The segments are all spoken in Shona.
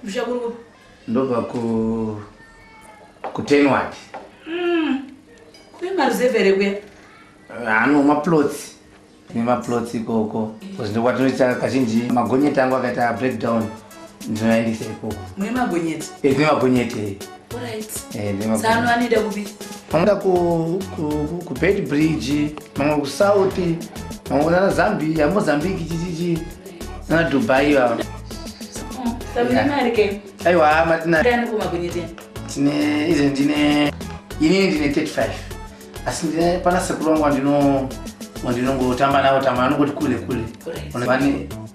Kumusha kuri ndobva ku kutenward. Mm. Kune maruzevha here kuya? Ano maplots nemaplots ikoko because ndokwatinoita kazhinji magonyeti angu akaita breakdown ndinoyandisa ikoko. Mune magonyeti? Eh, tine magonyeti. tsano eh, anoenda kupi vanoda kubed bridge mamwe kusouth mamwe kunana zambia mozambique chichichi nana dubai ivava aiwa matinatine izi ndine inini ndine 35 asi ndine pana sekuru wangu wandinongotamba navo tamba anongoti kule kule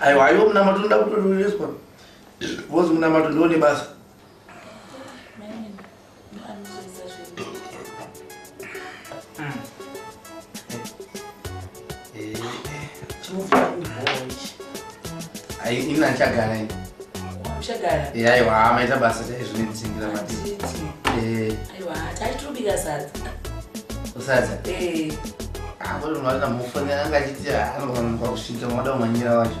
aiwa aiwo munamato ndoda kutotoreswa vozi munamato ndiwo nebasa ina ndichagara ini aiwa hamaita basa chaizvo nendisindira madii usadza akoti munhu arina mufonera anga achiti anofanirwa kusvika mada umanyira wacho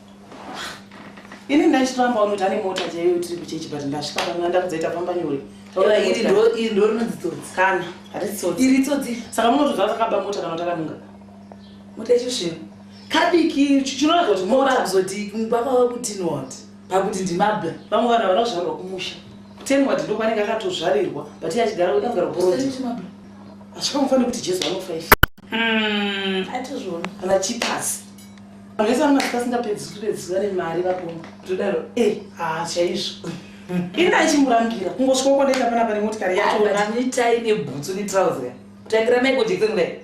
ini ndaichitoramba unoti ane mota chaiyo tiri kuchechi but ndasvika pamwe ndakudzaita famba nyore iri ndo rinonzi tsotsi kana hatisi tsotsi iri tsotsi saka munotodza takaba mota kana takanunga mota ichosvira kadiki chinoraga kuti mota kuzoti baba vakutini wati pakuti ndimabla vamwe vanhu havana kuzvarwa kumusha kuteni wati ndokwanenge akatozvarirwa but iye achigara kuda kugara poroti asvika mufanira kuti jesu anofa ife hmm, atizvona kana chipasi vese vana madzika singapedzi kutopedzi vane mari vapomba todaro e eh, haa chaizvo ini achimbirambira kungosvika kwandaita pana pane motikari yachonaitai nebhutsu netrauser kutangira maiko jekiseni kudai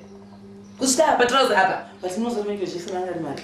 kusvika apa trauser apa but inozomaiko jekiseni angari mari